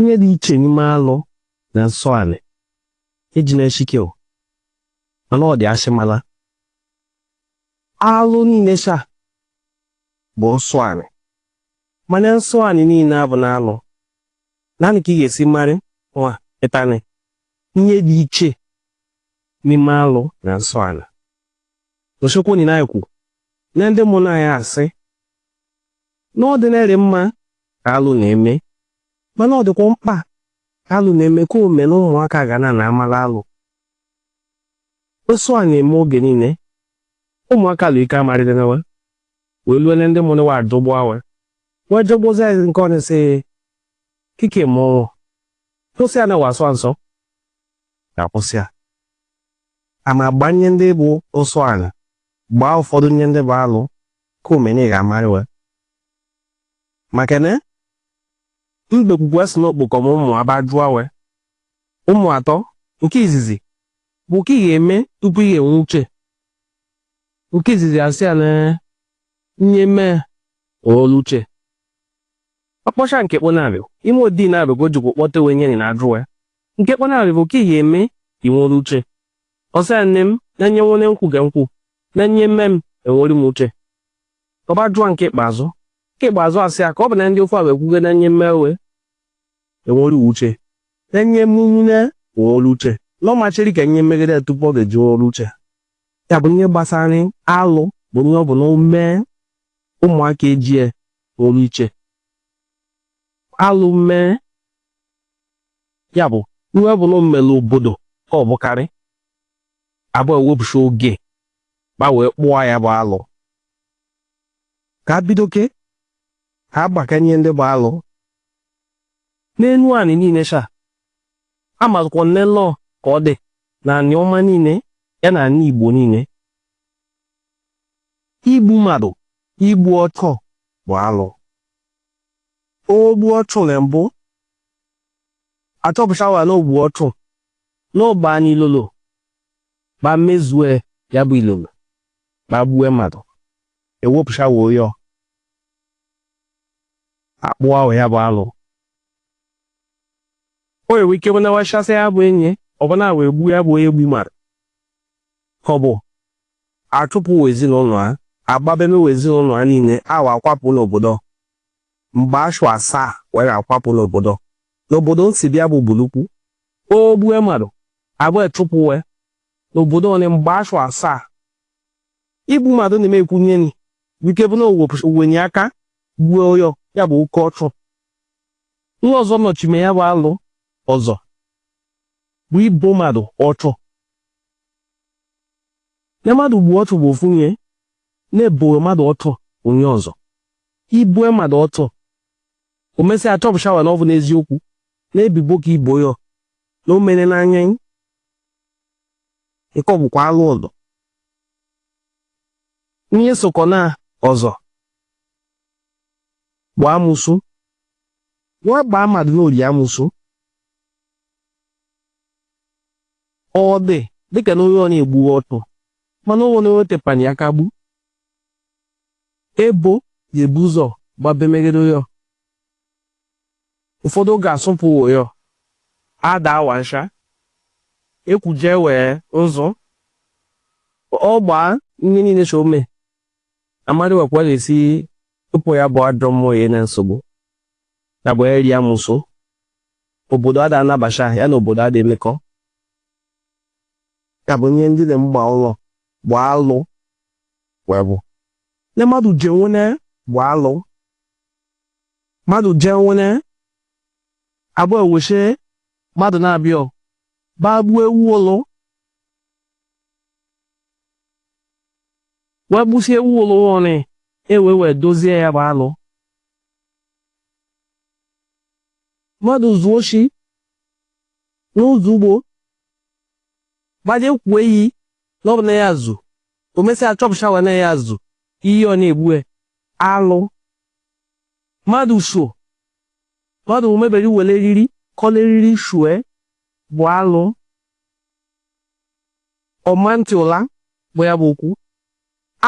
Ihe dị iche n'ime alụ na nsọ anị eji na-eshike o mana ọ dị asị mala alụ niile sha bụ nsọ anị mana nsọ anị niile abụna alụ naanị ka ị ga-esi marị nwa ịtanị ihe dị iche n'ime alụ na nsọ anị n'ochekwu onye na-ekwu na ndị ụmụnna anyị asị na ọ dịrị mma ka alụ na-eme mana ọ dịkwa mkpa ka alụ na-eme ka o me na ụmụaka ga na na-amara alụ nsọ a na-eme oge niile ụmụaka lụ ike amarịdịnawa wee lue na ndị mụrụ wa adọgbu awa wee jọgbozi anyị nke ọnụ sị kike mụọ kwụsị ya na wa sọ nsọ ga kwụsị ya a ma gbanye ndị bụ nsọ anị gbaa ụfọdụ nye ndị bụ alụ Ka o me na ị ga-amara we. Maka na mbekwukwa sị na ọ kpọkọ ụmụ a ba jụọ we. Ụmụ atọ, nke izizi, bụ ka ị ga-eme tupu ị ga-enwe uche. Nke izizi asị ya na nye mee o nwelu uche. Ọ kpọcha nke kpọnarị, ime o dị nabe ka o jikwa kpọte we nye na ajụ we. Nke kpọ nabe bụ ka ị ga-eme i nwere uche. Ọ sị ya nne m na nye nwere nkwu ge nkwu na nye mee m enwere m uche. Ọ ba jụọ nke ikpeazụ. Nke ikpeazụ asị ya ka ọ bụ na ndị ofe a wee kwuge na nye mee we enwere uche. Na nye mmụnwu na enwere uche. Na ọ ma cheri ka nye megide tupu ọ ga-eji nwere uche. Ya bụ nye gbasara alụ bụ nye ọ bụ na o mee ụmụaka ejie nwere uche. Alụ mee ya bụ ihe ọ bụ na o mere obodo ka ọ bụkarị abụ ewepụcha oge ba wee kpụọ ya bụ alụ ka a bidoke ka a gbakanye ndị bụ alụ n'enu anị niile sha amazụkwa nne lọọ ka ọ dị na Anịọma niile ya na anị Igbo niile igbu mmadụ igbu ọchụ bụ alụ o gbu ọchụ na mbụ achọpụta wa na o gbu ọchụ na ọ ba anyị ilolo ba mezue ya bụ ilolo ba gbue mmadụ ewepụcha wa oyo akpụ wa ya bụ alụ o nwere ike bụ na wachasị ya bụ enyi ọbụna wee gbuo ya bụ onye gbu mmadụ ka ọ bụ achụpụ ezinụlọ ha agbabemewe ezinụlọ ha niile a wa akwapụ n'obodo mgbe ashụ asaa we ga-akwapụ n'obodo n'obodo nsi bịa bụ bulukwu o gbue mmadụ abụ echụpụwe n'obodo onye mgbe ashụ asaa igbu mmadụ na-eme ekwunye ni wike bụ na owenye aka gbuo onye ọ ya bụ oke ọchụ nke ọzọ nọchime ya bụ alụ ọzọ bụ ibo mmadụ ọchụ na mmadụ gbuo ọchụ bụ ofu ihe na-ebo mmadụ ọchụ onye ọzọ I boo mmadụ ọchụ, o mesịa achọpụtawa na ọ bụ n'eziokwu na ebibo ka i bo ya na o mere n'anya anyị. Nke ọ bụkwa alụ ọzọ. N'ihe sokọ na ọzọ bụ amosu. Wa gbaa mmadụ na o li amosu. Ọ dị dịka na onye ọ na-egbughị ọchụ mana o nwere onye o tepanye aka gbu. Ebo ga-ebu ụzọ gbabemegide onye ọ. Ụfọdụ ga-achụpụ onye ọ, a daa wa nsha, e kwuje we nzu. Ọ gbaa ihe niile so ome, amadị wekwa ga-esi ịpụ ya bụ ajọ mmụọ ya na nsogbu. Ya bụ iri amosu. Obodo ada anabacha ya na obodo ada emekọ. Ya bụ ihe ndị dị mgba ụlọ bụ alụ. wee bụ na mmadụ je nwene bụ alụ mmadụ je nwene abụ eweshe mmadụ na-abịa bagbuo ewu ụlọ wee gbusie ewu ụlọ ọnị ewe wee dozie ya bụ alụ mmadụ zuo oshi n'ụzọ ugbo gbaje kwuo iyi na ọ bụ na ya zu o mesịa achọpụchawa na ya zu iyi ọ na-egbue alụ mmadụ so mmadụ omebere were eriri kọla eriri shue bụ alụ ọma ntị ụla bụ ya bụ okwu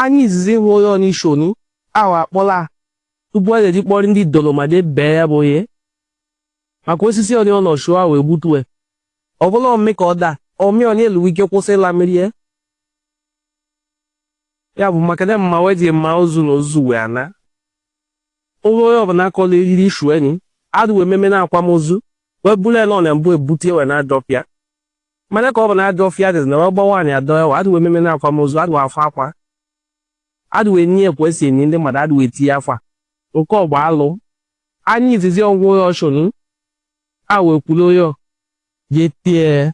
anyị izizi hụ onye ọ n'isi onu ahụ akpọla tupu a ga-eji kpọrọ ndị dolomade bee ya bụ ihe maka osisi ọnị ọ nọ shuo ahụ egbutue Ọ bụla omi ka ọ daa, omi ọnị e nwee ike kwụsị ịla mmiri ya. Ya bụ maka na mma wee ji mma ozu na ozu wee ana. Onwe onye ọbụla akọla eriri shu enyi, adụ wee meme na akwamozu, wee bụrụ ya na ọ na mbụ ebute wee n'ajọ ọfịa. Mana ka ọ bụ na ajọ ọfịa adịzị na wee gbawa anyị adọ ewa, adụ wee meme na akwamozu, adụ afọ akwa. Adụ wee nye ekwe si enyi ndị mmadụ, adụ wee tinye akwa. Nke ọ bụ alụ. Anyị izizi ọgwụ onye ọchụnụ. Ha wee kwuru ya jee tie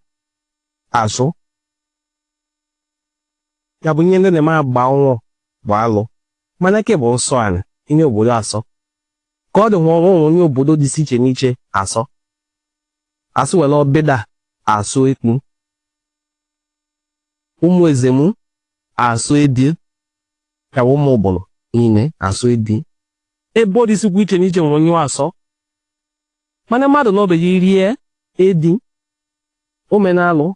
azụ ya bụ ihe ndị na-eme agba ọnwụ bụ alụ mana ke bụ nsọ anị ihe obodo asọ ka ọ dị nwa o nwe ihe obodo dịsị iche n'iche asọ asụ were Ọbịda asọ ekpu ụmụ Ezemu asọ edi ya bụ ụmụ Ubulu niile asọ edi ebe ọ dịsikwa iche n'iche nwere ihe asọ Mana mmadụ nọbeghị irie edi o mena alụ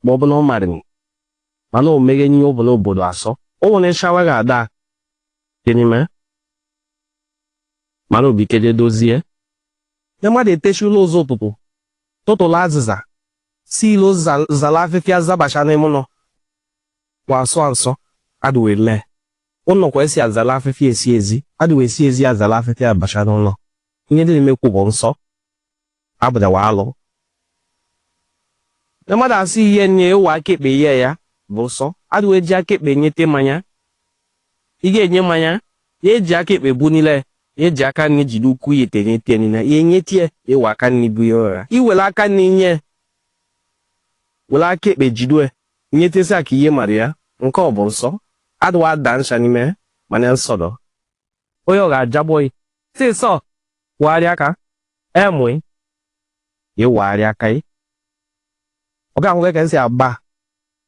ma ọ bụ na ọ marịrị mana o meghe n'ihe ọ bụla obodo asọ o nwere shawa ga-ada dị n'ime mana obikeje dozie na mmadụ eteshi ụla ụzọ ụtụtụ tụtụlụ azịza si ilo zala afịfịa zabasha n'ime ụnọ kwa asọ nsọ adịwe lee ụlọ kwa esi azala afịfịa esi ezi adịwe esi ezi azala afịfịa abasha n'ụnọ Ihe ndị na-emekwu bụ nsọ abụdawa alụ. Na mmadụ asị ihe nye were aka ekpe nye ya bụ nsọ adịwa eji aka ekpe nyete mmanya. Ị ga-enye mmanya ya eji aka ekpe bunile ya eji aka nri jide ukwu ya etenye tie nile ya enye tie ị were aka nri bu ya ụra. I were aka nri nye were aka ekpe jide nyetesi aka ihe mara ya nke ọ bụ nsọ adịwa ada ncha n'ime mana nsọ dọ. onye ọ ga-ajagbo gị sị sọ wagharịa aka emụ ya wagharịa aka gị ọ ga-ahụ ka esi agba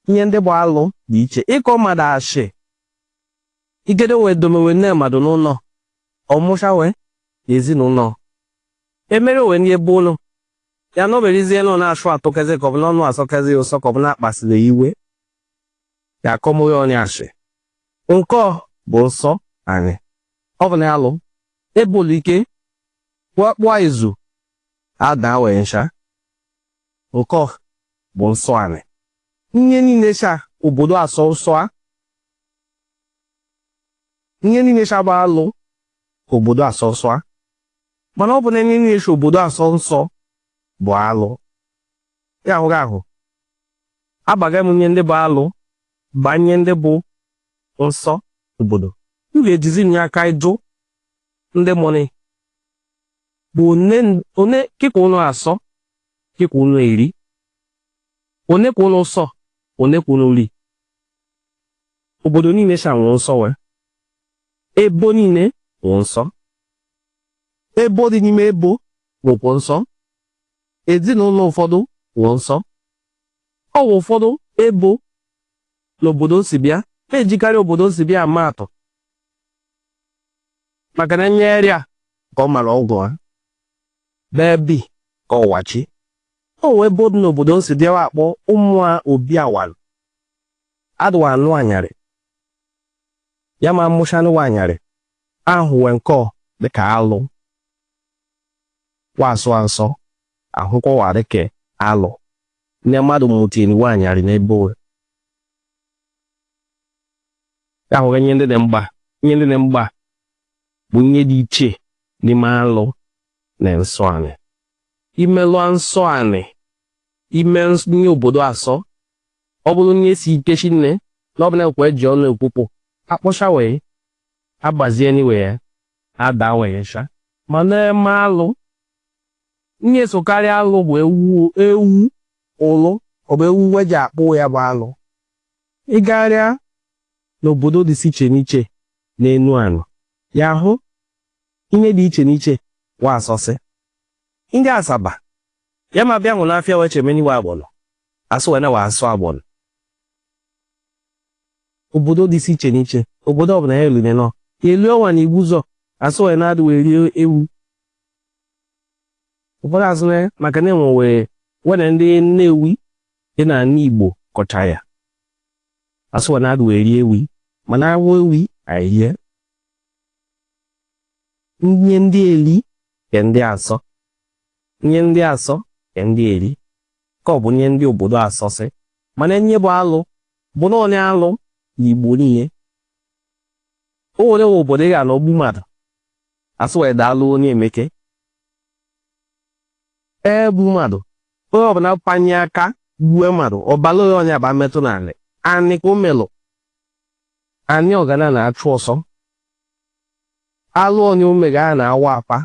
ihe ndị bụ alụ dị iche ịkọ mmadụ ashị igede wee domewe nne mmadụ n'ụnọ ọ mụsha wee na ezinụnọ emere wee ndị ebe ụlọ ya na o merezie nọ na-achụ atụkezi ka ọ bụ n'ọnụ asọkezi ya ụsọ ka ọ bụ na-akpasịrị ya iwe ya akọmụghị onye asị nke ọ bụ nsọ anị ọ bụ na alụ e bulu ike kpụọ izu ada wee ncha nke ọ bụ nsọ anị ihe niile cha obodo asọ nsọ a ihe niile cha bụ alụ obodo asọ nsọ a mana ọ bụ na ihe niile cha obodo asọ nsọ bụ alụ ya ahụghị ahụ Abaga m n'ihe ndị bụ alụ ba n'ihe ndị bụ nsọ obodo. M ga-ejizi nye aka ịjụ ndị mụ nị bụ one one kị ka ụnụ asọ kị ka ụnụ eri one ka ụnụ sọ one ka ụnụ ri obodo niile sha nwe nsọ we ebo niile nwe nsọ ebo dị n'ime ebo nwekwu nsọ Ezinụlọ ụfọdụ nwe nsọ. Ọ wụ ụfọdụ ebo n'obodo m si bịa na-ejikarị obodo m si bịa ama atụ maka na nyegharị a ka ọ mara ọgwụ ha ebe o bi ka ọ wachi o nwe ebo dị n'obodo m si bịa wa akpọ ụmụ a obi awalụ adị wa anụ anyarị ya ma a mụchanụ nwa anyarị ahụ wee nke ọ dịka alụ Wa asọ a nsọ ahụkọwarị ka alụ na mmadụ mụtiri nwa anyarị n'ebo ahụ ihe ndị dị mgba ihe ndị dị mgba bụ ihe dị iche n'ime alụ na nsọ anị i melụ nsọ anị ime nye obodo asọ ọ bụrụ nye si ike shinne na ọ bụ na-ekwe eji ọnụ ekwupụ akpọcha wee agbazie n'iwe ya adawesha ma na-eme alụ ihe sokarị alụ bụ ewu ewu ụlụ ọ bụ ewu we ji akpụ ya bụ alụ ị gagharịa n'obodo dị iche n'iche n'Enuani ị ya-ahụ ihe dị iche n'iche wa asọsị ndị Asaba ya ma bịa nwụ n'afịa weche meni wa agbọnọ asụ we na wa asọ agbọnọ obodo dịsị iche n'iche obodo ọbụla ya lune nọ elu ọnwa na Igbuzọ asụ we na adị we eri ewi ụfọdụ asụ na maka na enwe wee we na ndị Nnewi dị n'ala Igbo kọcha ya asụ we na adị we eri ewi mana awụ ewi anyị rie nye ndị eli ke ndị asọ nye ndị asọ ke ndị eri ka ọ bụ nye ndị obodo asọsị mana nye bụ alụ bụ naanị alụ n'Igbo niile o nwere nwe obodo ị ga-anọ gbu mmadụ asị we adị alụ onye emeke e gbu mmadụ onye ọbụla panye aka gbue mmadụ ọbala onye ọnya ba metụ n'ala anị ka o melụ anị ọ gana na-achụ ọsọ alụ onye o mega a na-awa apa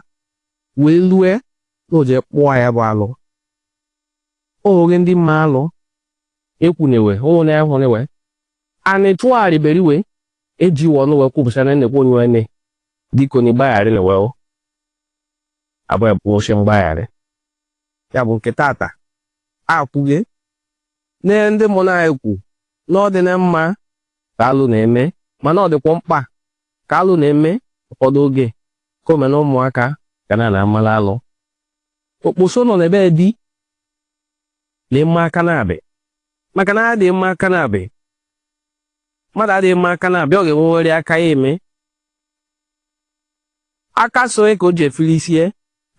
wee lue na o jee kpụọ ya bụ alụ o nwere ndị mma alụ ekwunewe onwere ya hụnewe anị tụgharịberiwe eji we ọnụ we kwupụsa na nnekwu onye nwanne dịka onye gbagharị nụ we abụ ya bụ oche mgbagharị ya bụ nke tata akwụghị na ndị mụ na-ekwu na ọ dị na mma ka alụ na-eme mana ọ dịkwa mkpa Ka alụ na-eme ụfọdụ oge, ka omena ụmụaka ga na na amala alụ. Okposo nọ n'ebe dị na-eme aka naabe maka na adịghị eme aka naabe. Mmadụ adịghị eme aka naabe, ọ ga-enweworị aka ya eme. Aka sọ ya ka o ji efili isi ya,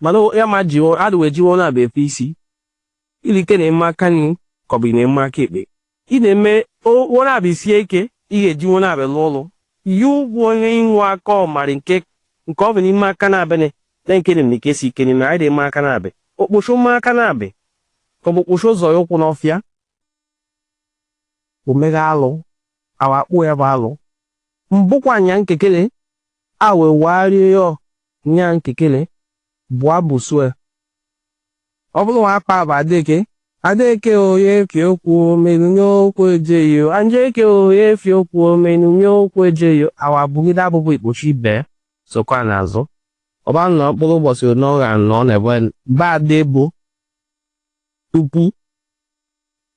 mana ya ma jiwo adịwo eji wo naabe efili isi. Ilike na-eme aka nri ka ọ bụ ị na-eme aka ekpe? Ị na-eme wo naabe sie ike, ị ga-eji wo naabe lụọ ọlụ. Ihe ugwu onye inwe aka ọ mari nke nke ọ bụ n'ime aka naabe na na nke na-eme ka esi ike n'ime anyị na-eme aka naabe. Okposho mee aka naabe ka ọ bụ okposho zọọ ya ụkwụ n'ọfịa. O meghe alụ, a wa kpụọ ya bụ alụ. Mbụkwa nya nkekele, a wee warịa ya ọ nya nkekele, bụa abụ sue. Ọ bụrụ nwa akpa bụ Adeke. Adeke o ya efi okwu o menu nye okwu ejeghị o. Adeke o ya efi okwu o menu nye okwu ejeghị o. A wa bụgide abụbụ okposho ibe ya sokwa n'azụ. Ọ ba nọ mkpụrụ ụbọchị one ọ ga-anọ n'ebe be Ade bụ tupu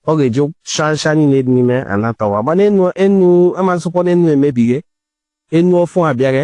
ọ ga-eji shansha niile dị n'ime anatawa. Mana enu enu amasịkwa n'enu emebighe, enu ọfụ abịaghe.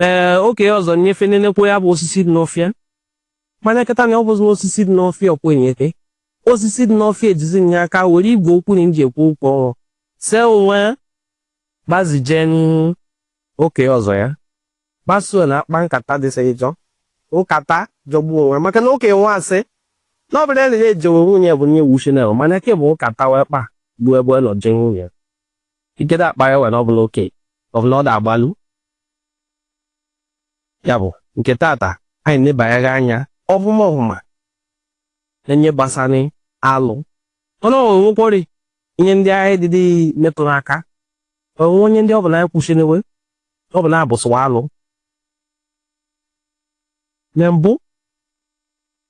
ee oke ọzọ nyefe nenekwe ya bụ osisi dị n'ọfịa mana kịta na ọ bụzi osisi dị n'ọfịa ọkwenyete osisi dị n'ọfịa ejizi nye aka were igwe okwu na nji ekwu okwu ọnwụ see onwe gbazije n'oke ọzọ ya gbasuo na akpa nkata dịsị ịjọ nkata jọgbuo onwe maka na oke nwa asị na ọ bụrụ na ya ejewe nwunye bụ nye wuchi na mana ke bụ nkata wee kpa gbuo ebe ọ nọ je nwunye Ikede akpa ya wena ọbụla oke ọbụla ọ da-agbalu ya bụ nke tata anyị nebanyere anya ọfụma ọfụma na nye gbasara alụ o nwekwori ihe ndị anyị dịdị metụrụ aka o nwe nye ndị ọ bụ na anyị kwụsịrịwe ọ bụ na abụsịwa alụ na mbụ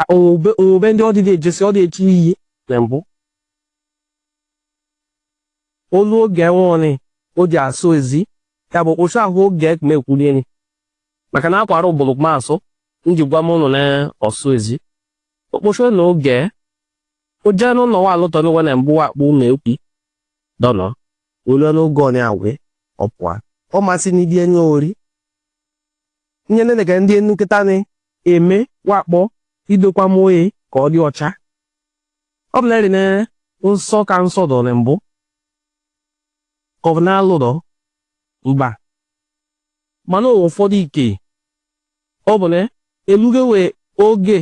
A Onwebe onwebe ndị ọ dịghị ejesi ọ dị echi iyi na mbụ. Olu oge nwụọnị o ji asụ ezi ya bụ okposo ahụ oge ke m ekwulieni maka na akwara ọ bụrụ ka m asụ m ji gwa m ụnụ na ọsụ ezi. Okposo na oge o jee n'ụlọ nwa alụtọ n'ụwa na mbụ wa kpọ na ekwi dọnọ. Olu n'oge ọ na-agwe ọ pụa. Ọ masị n'idi enye ori. Nye nene ka ndị enu kịta na-eme wa kpọ idokwa m oye ka ọ dị ọcha. Ọ bụ na-eri na nsọ ka nsọ dọ na mbụ ka ọ bụ na alụ dọ mba mana ụwa ụfọdụ ike ọ bụ na eluge wee oge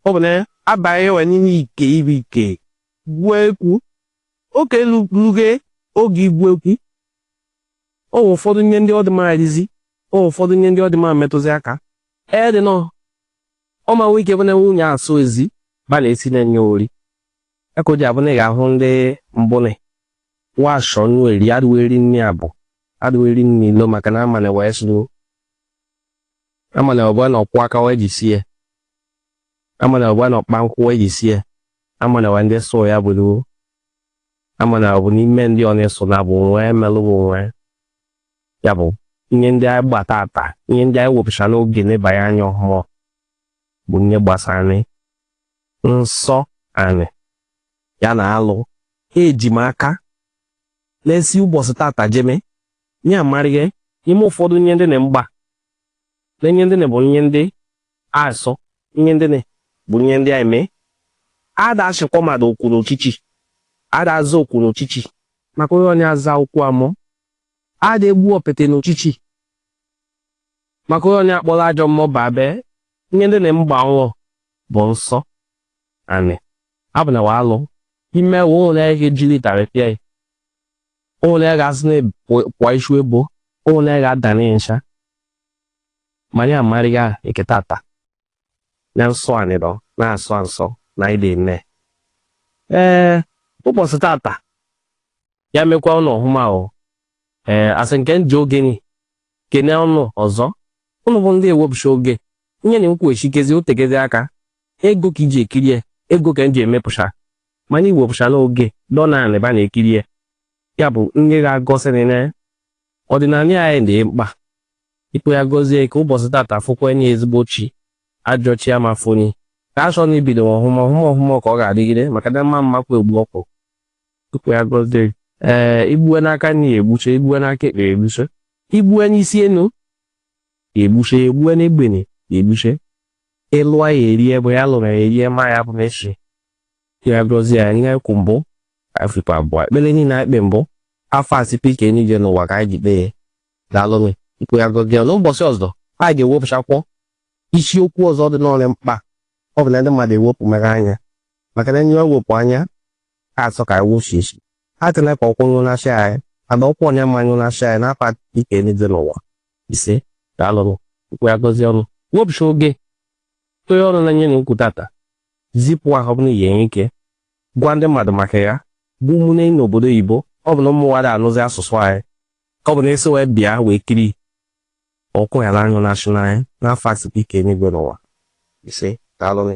ọ bụ na abaghị wee n'ime ike ibu ike gwuo ekwu oke luge oge igwu ekwu O nwe ụfọdụ nye ndị ọ dị mma rizi, o nwe ụfọdụ nye ndị ọ dị mma metụzi aka. Ee dị nọ, ọ ma nwe ike bụ na nwanyị asọ ezi ba na-esi na-enye ori. Ya ka o ji abụ na ị ga-ahụ ndị mbụnị washọ nnu eri adịwo eri nri abụ adịwo eri nri ilo maka na amanị wee sụrụ amanị ọbụla na ọ kwọ aka wee jisie amanị ọbụla na ọ kpa nkwụ wee jisie amanị wee ndị sụọ ya bụrụ Ama na ọ bụ n'ime ndị ọ na-eso na bụ nwee melụwa onwe ya bụ nye ndị anyị gba tata nye ndị anyị wepụchanụ oge nebanye anya ọhụma bụ nye gbasanị nsọ anị ya na alụ eji m aka na-esi ụbọchị tata jeme nye amarịga eme ụfọdụ nye ndị na m gba na nye ndị na bụ nye ndị Asọ nye ndị ne bụ nye ndị anyị mee. Ada achịkwa mmadụ oku n'uchichi. Ada aza oku n'uchichi. Maka onye ọnya aza oku mmụọ. Ada egbu ọpete n'uchichi. Maka onye ọnya akpọrọ ajọ mmụọ baa be nye ndị ne m gba nwụọ bụ nsọ anị. Abụ na wa alụ. Ime ewu ụnwụ na ihe jiri ịtarị pịa ya. Ụnwụ na ya ga-asị na pụọ ichu ebo. Ụnwụ na ya ga-ada nsha. Ma anyị amarịga nke tata na nsọ anị nọ na-asọ nsọ na anị dị nne. Ee, ụbọchị tata ya mekwa ụnụ ọhụma o. Ee, asị m ka m ji oge ni kene ụnụ ọzọ ụnụ bụ ndị ewepụcha oge nye na nkwughachikezi otegezi aka ego ka i ji ekirie ego ka m ji emepụcha mana i wepụcha n'oge dọna anị ba na-ekirie ya bụ nye ga-egosi na Ọdịnala anyị dị mkpa. Chukwu ya gọzie ka ụbọchị tata fokwa anyị ezigbo chi, ajọ chi ama fo anyị. Ka a chọọ na ibido ọhụma ọhụma ọhụma ka ọ ga-adịgide maka na mma mma kwa egbu ọkụ. Chukwu ya gọzie gị. Ee, i gbue n'aka nri ya egbuche, i gbue n'aka ekpe ya egbuche, i gbue n'isi enu ya egbuche, ya egbue n'egbene ya egbuche, ị lụa ya erie bụ ya lụrụ ya erie ma ya bụ mechi. ya gọzie anyị ihe kwụ mbụ afrịka abụọ ekpere niile anyị kpe mbụ afa sipe ike niile n'ụwa ka anyị ji kpee ya daalụnụ Chukwu ya gọzie ya n'ụbọchị ọzọ anyị ga-ewepụchakwọ isiokwu ọzọ dị n'ọrịa mkpa ọ bụ na ndị mmadụ ewepụ mere anya maka na nye ewepụ anya ha asọ ka iwu si esi ha tụla ka ọkụ nyụ na chi anyị mana ọkụ onye ama nyụ na chi anyị n'afa sipe ike niile n'ụwa ise daalụnụ Chukwu ya gọzie ụnụ wepụcha oge tụnye ọnụ na nye a na-ekwu tata zipụ ha ọ bụrụ ya enwe ike gwa ndị mmadụ maka ya bụ ụmụnne n'obodo oyibo ọ bụ na ụmụ wa adị anụzi asụsụ anyị ka ọ bụ na esi wee bịa wee kiri ọkụ ya n'anyụ na-achụ n'anya n'afọ asịkwa ike n'igwe n'ụwa ise daalụnị